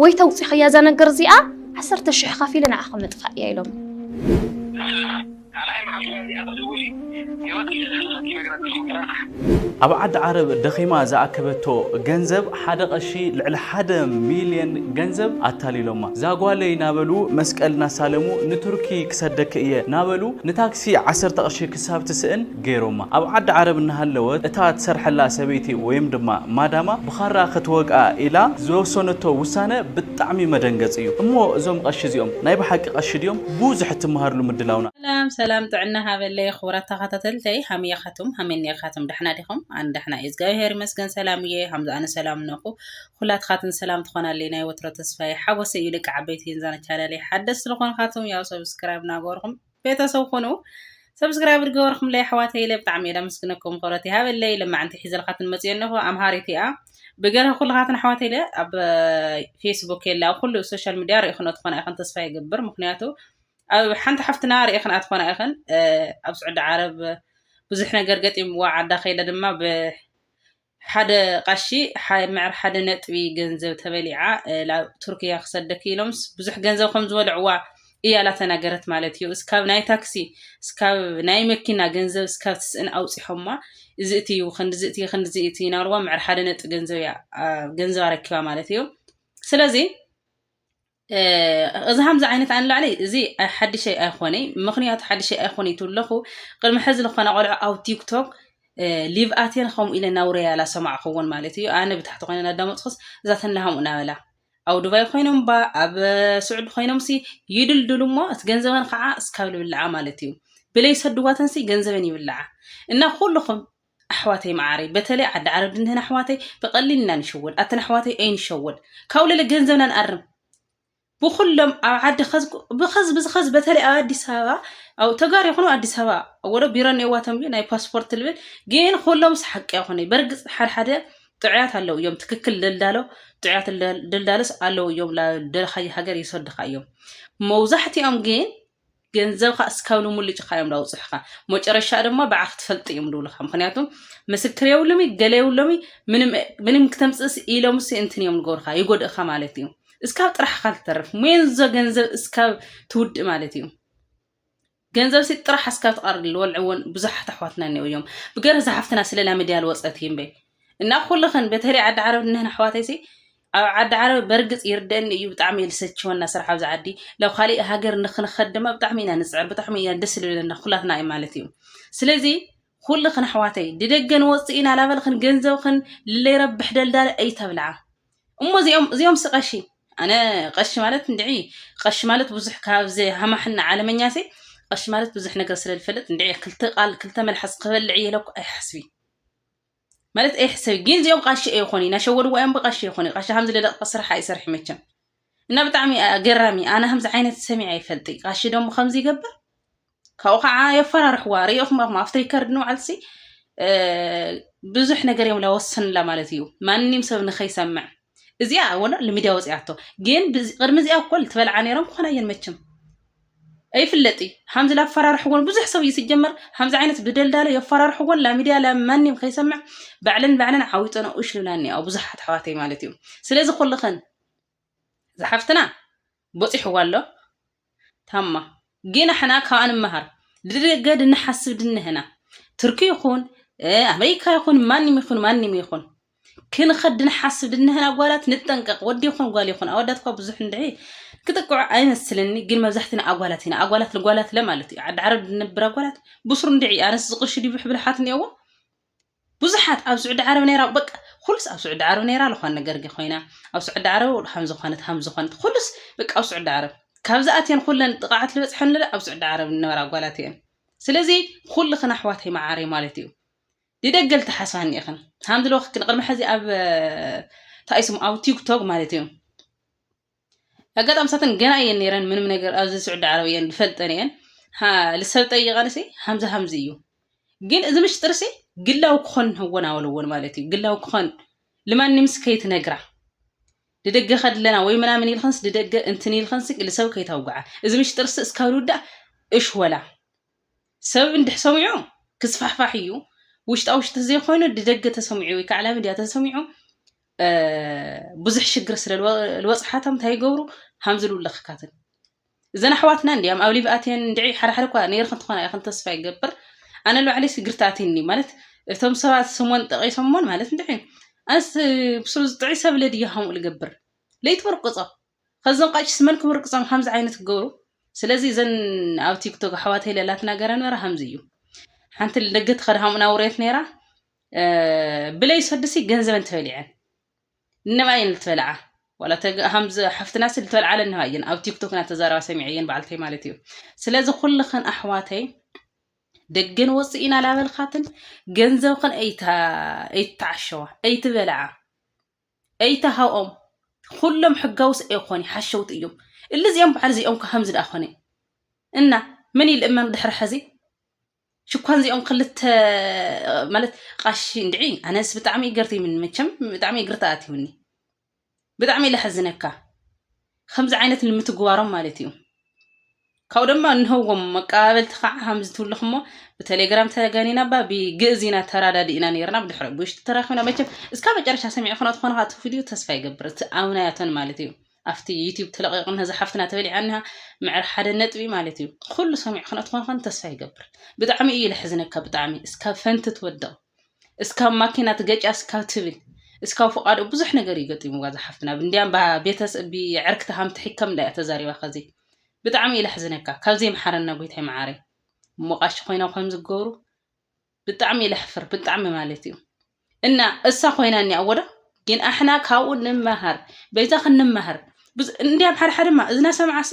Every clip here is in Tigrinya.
ወይ ተውጺኽያ እዛ ነገር እዚኣ ዓሰርተ ሽሕ ኸፊለ ንዓኺ ምጥፋእ እያ ኢሎም። ኣብ ዓዲ ዓረብ ደኺማ ዝኣከበቶ ገንዘብ ሓደ ቐሺ ልዕሊ ሓደ ሚልየን ገንዘብ ኣታሊሎማ። ዛጓለይ እናበሉ መስቀል እናሳለሙ ንቱርኪ ክሰደኪ እየ እናበሉ ንታክሲ ዓሰርተ ቕርሺ ክሳብ ትስእን ገይሮማ። ኣብ ዓዲ ዓረብ እናሃለወት እታ ትሰርሐላ ሰበይቲ ወይም ድማ ማዳማ ብኻራ ክትወግኣ ኢላ ዝወሰነቶ ውሳነ ብጣዕሚ መደንገፂ እዩ። እሞ እዞም ቐሺ እዚኦም ናይ ብሓቂ ቐሺ ድዮም? ቡዙሕ እትመሃርሉ ምድላውና። ሰላም ሰላም ጥዕና ሃበለይ ኽቡራት ተኻታተልተይ ሃመይ ኣኻቱም ሃመይ እኒኣኻቱም ዳሕና ዲኹም ኣነ ዳሕና እየ እዝጋቢሀር ይመስገን ሰላም እየ ሃምዝ ኣነ ሰላም እነኹ ኹላትኻትን ሰላም ትኾናለይ ናይ ወትሮ ተስፋየ ሓጎሰይ እዩ ደቂ ዓበይቲ ንዛን ቻነለይ ሓደስቲ ልኾንኻቱም ያው ሰብስክራይብ ናገበርኹም ቤተሰብ ኹኑ ሰብስክራይብ ዝገበርኩምለይ ኣሕዋተይ ኢለ ብጣዕሚ እየ ላመስግነኩም ክብረት ይሃበለይ ለማዕንቲ ሒዘልካትን መፅዮ ኣለኹ ኣምሃሪት እያ ብገረ ኩልኻትን ኣሕዋተ ኢለ ኣብ ፌስቡክ የለ ኣብ ኩሉ ሶሻል ሚድያ ርኢኹኖ ትኾና ኢኽን ተስፋ ይገብር ምክንያቱ ኣብ ሓንቲ ሓፍትና ርኢኽን ኣትኾና ኢኽን ኣብ ስዑዲ ዓረብ ብዙሕ ነገር ገጢምዋ ዓዳ ከይደ ድማ ሓደ ቐሺ ምዕር ሓደ ነጥቢ ገንዘብ ተበሊዓ ላብ ቱርክያ ክሰደኪ ኢሎምስ ብዙሕ ገንዘብ ከም ዝበልዕዋ እያ ላተናገረት ማለት እዩ እስካብ ናይ ታክሲ እስካብ ናይ መኪና ገንዘብ እስካብ ትስእን ኣውጺሖማ እዚ እቲ እዩ ክንድዚ እቲ ክንድዚ እቲ ናብልዋ ምዕር ሓደ ነጥቢ ገንዘብ እያ ገንዘብ ኣረኪባ ማለት እዩ ስለዚ እዚ ከምዚ ዓይነት ኣንላዕሊ እዚ ሓድሸይ ኣይኮነይ ምክንያቱ ሓድሸይ ኣይኮነይ ትብለኹ ቅድሚ ሕዚ ዝኾነ ቆልዑ ኣብ ቲክቶክ ሊቭ ኣቴን ከምኡ ኢለ ናውረ ያላ ሰማዕክዎን ማለት እዩ ኣነ ብታሕቲ ኮይነ ናዳመፅኩስ እዛ ተናሃሙ እናበላ ኣብ ዱባይ ኮይኖም ባ ኣብ ስዑድ ኮይኖም ሲ ይድልድሉ እሞ እቲ ገንዘበን ከዓ እስካብ ልብልዓ ማለት እዩ ብለይ ሰድዋተን ሲ ገንዘበን ይብልዓ እና ኩልኹም ኣሕዋተይ መዓረይ በተለይ ዓዲ ዓረብ ድንህን ኣሕዋተይ ብቀሊል ኢና ንሽወድ ኣተን ኣሕዋተይ ኣይንሸወድ ካብኡ ለለ ገንዘብና ንኣርም ብኩሎም ኣብ ዓዲ ብከዝ ብዝከዝ በተለይ ኣብ ኣዲስ ኣበባ ኣብ ተጋሩ ይኹኑ ኣዲስ ኣበባ ወደ ቢሮ ኔዋቶም እዩ ናይ ፓስፖርት ልብል ግን ኩሎም ሓቂ ይኹነ በርግፅ ሓድሓደ ጥዑያት ኣለው እዮም ትክክል ደልዳሎ ጥዑያት ደልዳሎስ ኣለው እዮም ደልካየ ሃገር ይሰድካ እዮም መብዛሕትኦም ግን ገንዘብካ እስካብ ልሙልጭ እካ እዮም ዳውፅሕካ መጨረሻ ድማ ብዓኽ ትፈልጥ እዮም ድብልካ ምክንያቱ ምስክር የብሉም ገለ የብሎም ምንም ክተምፅእስ ኢሎም ሲ እንትን እዮም ዝገብርካ ይጎድእካ ማለት እዩ እስካብ ጥራሕካ ትተርፍ ሜንዞ ገንዘብ እስካብ ትውድእ ማለት እዩ ገንዘብ ሲ ጥራሕ እስካብ ትቀርብ ልወልዕዎን ብዙሓት ኣሕዋትና እኒኦ እዮም ብገርህ ዝሓፍትና ስለላ ሚድያ ልወፀት እምበይ እና ኩልኽን በተለይ ዓዲ ዓረብ እነህን ኣሕዋተይሲ ኣብ ዓዲ ዓረብ በርግጽ ይርደኒ እዩ ብጣዕሚ እየ ዝሰቸወና ስራሕ ኣብዚ ዓዲ ላብ ካሊእ ሃገር ንክንኸድ ድማ ብጣዕሚ ኢና ንጽዕር ብጣዕሚ ኢና ደስ ዝብለና ኩላትና እዩ ማለት እዩ ስለዚ ኩልኽን ኣሕዋተይ ድደገ ንወጽእ ኢና ላበልኽን ገንዘብኽን ለይረብሕ ደልዳለ እይተብልዓ እሞ እዚኦም እዚኦም ስቀሺ ኣነ ቀሺ ማለት እንድዒ ቀሺ ማለት ብዙሕ ካብዚ ሃማሕና ዓለመኛሲ ቀሺ ማለት ብዙሕ ነገር ስለ ዝፈልጥ እንድዒ ክልተ ቃል ክልተ መልሓስ ክበልዕ እየ ኢለኩ ኣይሓስቢ ማለት ኤሕ ሰብ ግን እዚኦም ቃሺ ኣይኾኑ እናሸወድዋ እዮም ብቃሺ ኣይኾኑ ቃሺ ከምዚ ለደቅጠ ስራሕ ኣይሰርሕ መቸም እና ብጣዕሚ ገራሚ ኣነ ከምዚ ዓይነት ሰሚዐ ይፈልጥ ቃሺ ደሞ ከምዚ ይገብር ካብኡ ከዓ የፈራርሕዋ ሪኢኹም ኣኹም ኣብቲ ሪከርድ ንባዕልሲ ብዙሕ ነገር እዮም ላወሰንላ ማለት እዩ ማንም ሰብ ንኸይሰምዕ እዚኣ ወላ ልሚድያ ወፂኣቶ ግን ቅድሚ እዚኣ እኮ ትበልዓ ነይሮም ክኾና እየን መቸም ኣይፍለጥ እዩ ሓምዚ ላፈራርሕዎን ብዙሕ ሰብ እዩ ሲጀመር ሓምዚ ዓይነት ብደልዳለ የፈራርሕዎን ላሚድያ ላማንም ከይሰምዕ ባዕለን ባዕለን ዓዊጠን ኡሽ ልብላ እኒኣ ብዙሓት ኣሕዋተይ ማለት እዩ ስለዚ ኩልኸን ዝሓፍትና ቦፂሕዋ ኣሎ ታማ ግን ኣሕና ካብኣ ንመሃር ድገድ እንሓስብ ድንህና ትርኪ ይኹን ኣመሪካ ይኹን ማንም ይኹን ማንም ይኹን ክንኸድ ድንሓስብ ድንህን ኣጓላት ንጠንቀቅ ወዲ ይኹን ጓል ይኹን ኣወዳት እኳ ብዙሕ እንድዒ ክጥቅዑ ኣይመስልኒ ግን መብዛሕትና ኣጓላት ኢና ኣጓላት ንጓላት ለ ማለት እዩ ዓዲ ዓረብ ድንብር ኣጓላት ብሱር እንድዒ ኣነስ ዝቅርሺ ድዩ ብሕብል ሓት እኒኦዎ ብዙሓት ኣብ ስዑዲ ዓረብ ነይራ በቃ ኩሉስ ኣብ ስዑዲ ዓረብ ነይራ ዝኾነ ነገር ጌ ኮይና ኣብ ስዑዲ ዓረብ ሃም ዝኾነት ሃም ዝኾነት ኩሉስ በቃ ኣብ ስዑዲ ዓረብ ካብዚ ኣትየን ኩለን ጥቕዓት ዝበፅሐን ኣብ ስዑዲ ዓረብ ዝነበራ ጓላት እየን ስለዚ ኩልኽን ኣሕዋተይ መዓረይ ማለት እዩ ይደገል ትሓስባኒ ኢኽን ሃም ድሎ ክክን ቅድሚ ሕዚ ኣብ ታይስም ኣብ ቲክቶክ ማለት እዩ ኣጋጣሚ ሳተን ገና እየን ነይረን ምንም ነገር ኣብዚ ስዑዲ ዓረብ እየን ዝፈልጠን እየን ልሰብ ጠይቐንሲ ሃምዚ ሃምዚ እዩ ግን እዚ ምሽጥርሲ ግላዊ ክኾን ህወን ኣወለዎን ማለት እዩ ግላዊ ክኾን ልማንምስ ከይትነግራ ድደገ ከድለና ወይ ምናምን ኢልኸንስ ድደገ እንትን ኢልኸንሲ ልሰብ ከይታውግዓ እዚ ምሽጥርሲ እስካብ ልውዳእ እሽ ወላ ሰብ እንድሕ ሰሚዑ ክስፋሕፋሕ እዩ ውሽጣ ውሽጢ ተዘይኮይኑ ድደገ ተሰሚዑ ወይ ከዓ ሚድያ ተሰሚዑ ብዙሕ ሽግር ስለ ዝበፅሓቶም እንታይ ይገብሩ ሃምዚ ልውለኽካትን እዘን ኣሕዋትና እንዲያም ኣብ ሊቭ ኣትየን እንድዒ ሓደሓደ እኳ ነይርክ እንትኾና ይኹን ተስፋ ይገብር ኣነ ንባዕለይ ስግርቲ ኣትኒ ማለት እቶም ሰባት ስሞን ጠቂሶሞን ማለት እንድዒ ኣነስ ብስሩ ዝጥዒ ሰብለ ድያ ከምኡ ልገብር ለይትበርቁፆ ከዞም ቐሽስ መን ክምርቅጾም ሃምዚ ዓይነት ክገብሩ ስለዚ እዘን ኣብ ቲክቶክ ኣሕዋት ሄለ ላትና ገራ ነራ ሃምዚ እዩ ሓንቲ ደገ ትኸድ ሃሙና ውሬት ነራ ብለይ ሰድሲ ገንዘበን ተበሊዐን እነባ እየን ልትበልዓ ዋላ ሃምዚ ሓፍትና ሲ ልትበልዓ ለንባ እየን ኣብ ቲክቶክ ና ተዛረባ ሰሚዐ እየን በዓልተይ ማለት እዩ ስለዚ ኩልኽን ኣሕዋተይ ደገን ወፅኢና ላበልካትን ገንዘብኽን ኣይትዓሸዋ ኣይትበልዓ ኣይተሃኦም ኹሎም ሕጋዊ ሰ ኣይኾኒ ሓሸውቲ እዮም እሊ እዚኦም በዓል እዚኦም እኳ ከምዚ ደኣ ኮነ እና መን እዩ ልእመን ድሕሪ ሕዚ ሽኳን እዚኦም ክልተ ማለት ቃሺ እንድዒ ኣነስ ብጣዕሚ ይገርትይምኒ መቸም ብጣዕሚ ይግርታ ኣትይምኒ ብጣዕሚ ለሕዝነካ ከምዚ ዓይነት ንምትግባሮም ማለት እዩ ካብኡ ድማ እንህዎም መቀባበልቲ ከዓ ከምዚ ትብሉ ክሞ ብቴሌግራም ተገኒና ባ ብግእዝ ኢና ተራዳዲእና ነርና ብድሕሪ ብውሽጢ ተራኪብና መቸም እስካ መጨረሻ ሰሚዕ ክኖ ትኾነ ካቲ ቪድዮ ተስፋ ይገብር እቲ ኣምናያቶን ማለት እዩ ኣብቲ ዩትብ ተለቂቑ ነዚ ሓፍትና ተበሊዓኒሃ ምዕር ሓደ ነጥቢ ማለት እዩ ኩሉ ሰሚዕ ክኖ ትኾነ ተስፋ ይገብር ብጣዕሚ እዩ ለሕዝነካ ብጣዕሚ እስካብ ፈንቲ ትወድቕ እስካብ ማኪና ትገጫ እስካብ ትብል እስካብ ፍቃዶ ብዙሕ ነገር እዩ ገጢምዋ ዝሓፍትና እንዲያም ቤተስ ብዕርክቲ ሃም ትሕከም እንዳ እያ ተዛሪባ ከዚ ብጣዕሚ እዩ ለሕዝነካ ካብዚ ይምሓረና ጎይታይ መዓረይ እሞ ቃሺ ኮይና ከም ዝገብሩ ብጣዕሚ እዩ ለሕፍር ብጣዕሚ ማለት እዩ እና እሳ ኮይና እኒኣ ወዶ ግን ኣሕና ካብኡ ንመሃር በይዛ ክንመሃር እንዲያም ሓደ ሓደማ እዝና ሰምዓሲ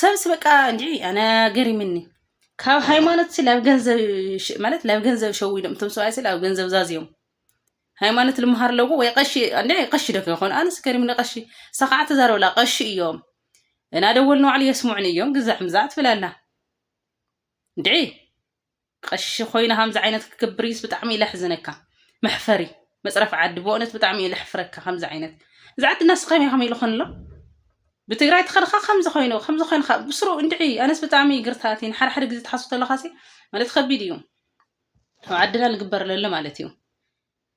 ሰብስ በቃ እንዲ ኣነ ገሪምኒ ካብ ሃይማኖት ሲ ላብ ገንዘብ ማለት ላብ ገንዘብ ሸዊዶም እቶም ሰብኣይ ሲ ላብ ገንዘብ ዛዝዮም ሃይማኖት ልምሃር ኣለዎ ወይ ቀሺ እንዲ ቀሺ ዶ ከይኮኑ ኣነስ ገሪምኒ ቀሺ እሳ ከዓ ተዛረበላ ቀሺ እዮም እና ደወል ንባዕሉ የስምዑኒ እዮም ግዛዕ ምዛዕ ትብል ኣላ እንድዒ ቐሺ ኮይና ከምዚ ዓይነት ክግብርዩስ ብጣዕሚ እየ ለሕዝነካ መሕፈሪ መፅረፍ ዓዲ ብእነት ብጣዕሚ እየ ለሕፍረካ ከምዚ ዓይነት እዚ ዓዲ ናስኸም ኢኹም ኢልኹን ኣሎ ብትግራይ ተኸድኻ ከምዚ ኮይኑ ከምዚ ኮይንካ ብስሩ እንድዒ ኣነስ ብጣዕሚ እዩ ግርታ ኣትኒ ሓደ ሓደ ግዜ ትሓስቡ ተለካ ሲ ማለት ከቢድ እዩ ኣብ ዓድና ልግበር ለሎ ማለት እዩ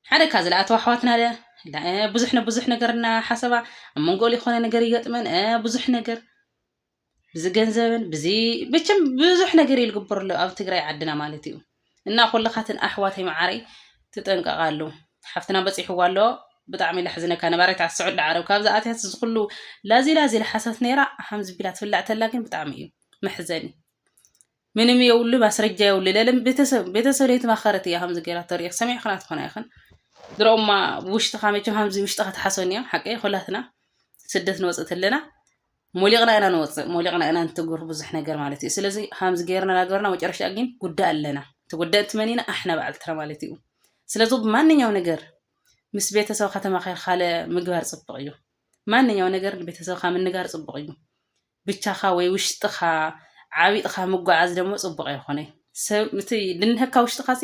ሓደ ካብ ዝለኣተዋ ኣሕዋትና ለ ብዙሕ ንብዙሕ ነገርና ሓሰባ ኣብ መንጎ ዝኾነ ነገር ይገጥመን ብዙሕ ነገር ብዝገንዘብን ብዚ ብችም ብዙሕ ነገር እዩ ዝግበር ኣሎ ኣብ ትግራይ ዓድና ማለት እዩ እና ኩልኻትን ኣሕዋተይ መዓረይ ትጠንቀቓሉ ሓፍትና በፂሕዎ ኣሎ ብጣዕሚ ለሕዝነካ ነባሪት ዓዲ ስዑዲ ዓረብ ካብ ዝኣትያት እዚ ኩሉ ላዚ ላዚ ልሓሰት ነይራ ሓምዚ ቢላ ትብላዕ ተላ ግን ብጣዕሚ እዩ መሕዘኒ ምንም የብሉ ማስረጃ የብሉ ለለም ቤተሰብ ቤተሰብ ለይተማኸረት እያ ከምዚ ገይራ ተርእዮ ሰሚዕክና ትኾና ይኽን ድሮማ ብውሽጥኻ መቸም ከምዚ ውሽጥኻ ትሓሶን እዮም ሓቂ ኩላትና ስደት ንወፅእ ኣለና ሞሊቕና ኢና ንወፅእ ሞሊቕና ኢና ንትግብር ብዙሕ ነገር ማለት እዩ ስለዚ ከምዚ ገይርና ናገርና መጨረሻ ግን ጉዳእ ኣለና ተጎዳእቲ መን ኢና ኣሕና በዓልትና ማለት እዩ ስለዚ ብማንኛው ነገር ምስ ቤተሰብካ ተማኺርካ ምግባር ፅቡቕ እዩ ማንኛው ነገር ቤተሰብካ ምንጋር ፅቡቕ እዩ ብቻኻ ወይ ውሽጥኻ ዓቢጥኻ ምጉዓዝ ደሞ ጽቡቕ ኣይኾነይ። ሰብ እቲ ድንሀካ ውሽጥኻሲ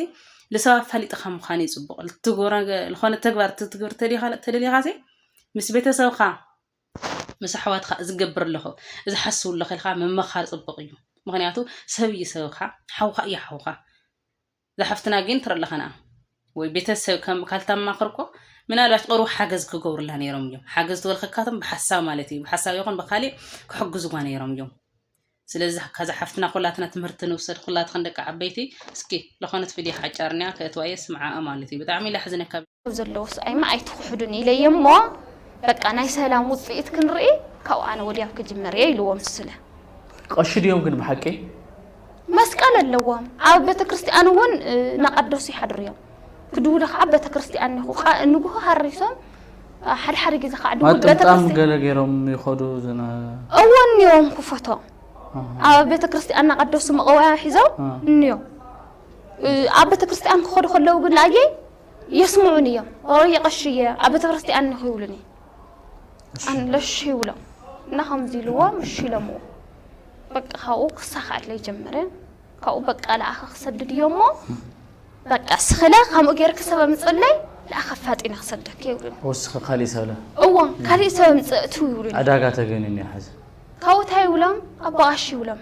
ልሰብ ኣፋሊጥኻ ምዃን እዩ ጽቡቕ። ልትግብሮ ልኾነ ተግባር ትትግብር ተዲኻ ተደሊኻሲ ምስ ቤተሰብኻ ምስ ኣሕዋትኻ እዚ ገብር ኣለኹ እዚ ሓስቡ ኣለኹ ኢልካ ምመኻር ጽቡቕ እዩ። ምኽንያቱ ሰብ እዩ ሰብኻ ሓውኻ እዩ ሓውኻ። ዛሓፍትና ጊን ትረለኸና ወይ ቤተሰብ ከም ካልታማኽር እኮ ምናልባች ቅሩብ ሓገዝ ክገብሩላ ነይሮም እዮም ሓገዝ ትበልኸካቶም ብሓሳብ ማለት እዩ ብሓሳብ ይኹን ብካሊእ ክሕግዙዋ ነይሮም እዮም ስለዚ ካዛ ሓፍትና ኩላትና ትምህርቲ ንውሰድ ኩላትክን ደቂ ዓበይቲ እስኪ ለኾነት ቪድዮ ሓጫርንያ ከእትዋየ ስምዓኣ ማለት እዩ ብጣዕሚ ላሕዝነካ ዘለዎ ስቓይማ ኣይትኹሕዱኒ ኢለዮ እሞ በቃ ናይ ሰላም ውፅኢት ክንርኢ ካብኡ ኣነ ወዲያው ክጅመር እየ ኢልዎም ስለ ቐሺ ድዮም ግን ብሓቂ መስቀል ኣለዎም ኣብ ቤተ ክርስቲያን እውን እናቐደሱ ይሓድሩ እዮም ክድውሉ ከዓ ቤተ ክርስቲያን ይኹ ንጉሆ ሃሪሶም ሓደ ሓደ ግዜ ከዓ ድውል ቤተ ማጥምጣም ክርስቲያን ገለ ገይሮም ይኸዱ ዝነ እዎ እኒኦም ክፈቶ ኣብ ቤተ ክርስቲያን እናቐደሱ መቐወያ ሒዞም አ። እኒኦም ኣብ ቤተ ክርስቲያን ክኸዱ ከለዉ ግን ላየ የስምዑኒ እዮም ኦሮየ ቀሺ እየ ኣብ ቤተክርስትያን እኮ ይብሉኒ ኣን ለሽ ይብሎም እና ከምዚ ኢልዎ ምሽ ኢሎምዎ በቃ ካብኡ ክሳኻዕለይ ጀመረ ካብኡ በቃ ለኣኸ ክሰድድ እዮ እሞ በቃ ስኽለ ከምኡ ጌርክ ሰበ ምፅለይ ለኣኸ ፋጢነ ክሰደክ ይብሉኒ ወስኺ ካሊእ ሰብለ እዎ ካሊእ ሰበ ምፅእ እትው ይብሉኒ ዕዳጋ ተገኒኒ እዩ ሓዚ ካብኡ እንታይ ይብሎም ኣቦ ቀሺ ይብሎም